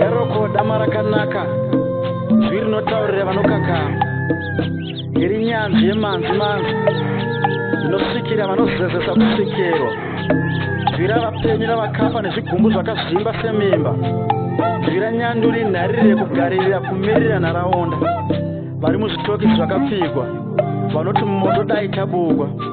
yaroko dama rakanaka zwi rinotaurira vanokakama iri nyanzvi yemanzi manzi inosvikira vanozezesa kusvikirwa zwi ravapenyu ravakafa nezvigumbu zvakazvimba semimba zwi ranyanduri nhariri rekugaririra kumirira nharaunda vari muzvitoki zvakapfigwa vanoti moto dai tabugwa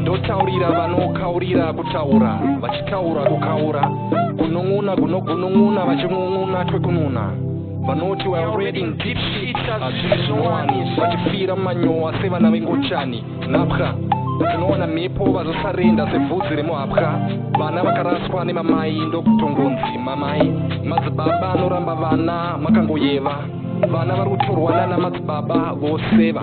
ndotaurira vanokaurira kutaura vachitaura kukaura kunun'una kunogunun'una vachinun'una twekununa vanoti we are reading deep shit hazviri zvinowani vachifira manyowa sevana vengochani nhapwa tinoona mhepo vazosarenda sevhudzi remuhapwa vana vakaraswa nemamai ndokutongonzi mamai madzibaba anoramba vana makangoyeva vana vari kutorwa nana madzibaba voseva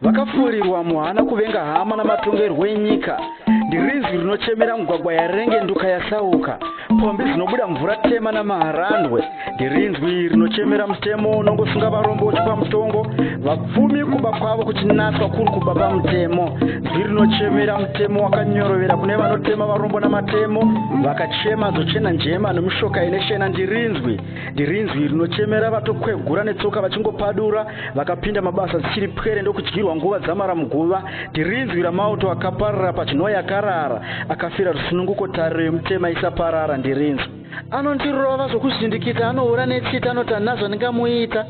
vakafurirwa muhana kuvenga hama namatongerwo enyika ndirinzwi rinochemera mugwagwa yarenge nduka yasauka pombi dzinobuda mvura tema namaharandwe ndirinzwi rinochemera mutemo unongosunga varombo uchipa mutongo vapfumi kuba kwavo kuchinaswa kuri kuba pamutemo zwi rinochemera mutemo wakanyorovera kune vanotema varombo namatemo vakachema zochena njema nomushoka ine shena ndirinzwi ndirinzwi rinochemera vatokwegura netsoka vachingopadura vakapinda mabasa dzichiri pwere ndokudyirwa nguva dzamara muguva tirinzwi ramauto akaparara pachinoi akarara akafira rusununguko tariro yemutema isaparara ndirinzwi anondirova zvokuzvindikidza anohura netsita anoti handina zvandingamuita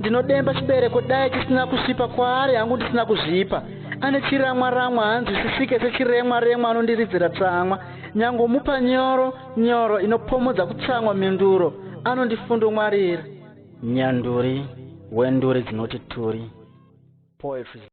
ndinodemba chibereko dai chisina kusvipa kwaari hangu ndisina kuzvipa ane chiramwa ramwa hanzwisisike sechiremwa remwa anondiridzira tsamwa nyangomupa nyoro nyoro inopomodza kutsamwa mhinduro anondifundongwarira Nyanduri wenduri dzinoti turi. Poetry.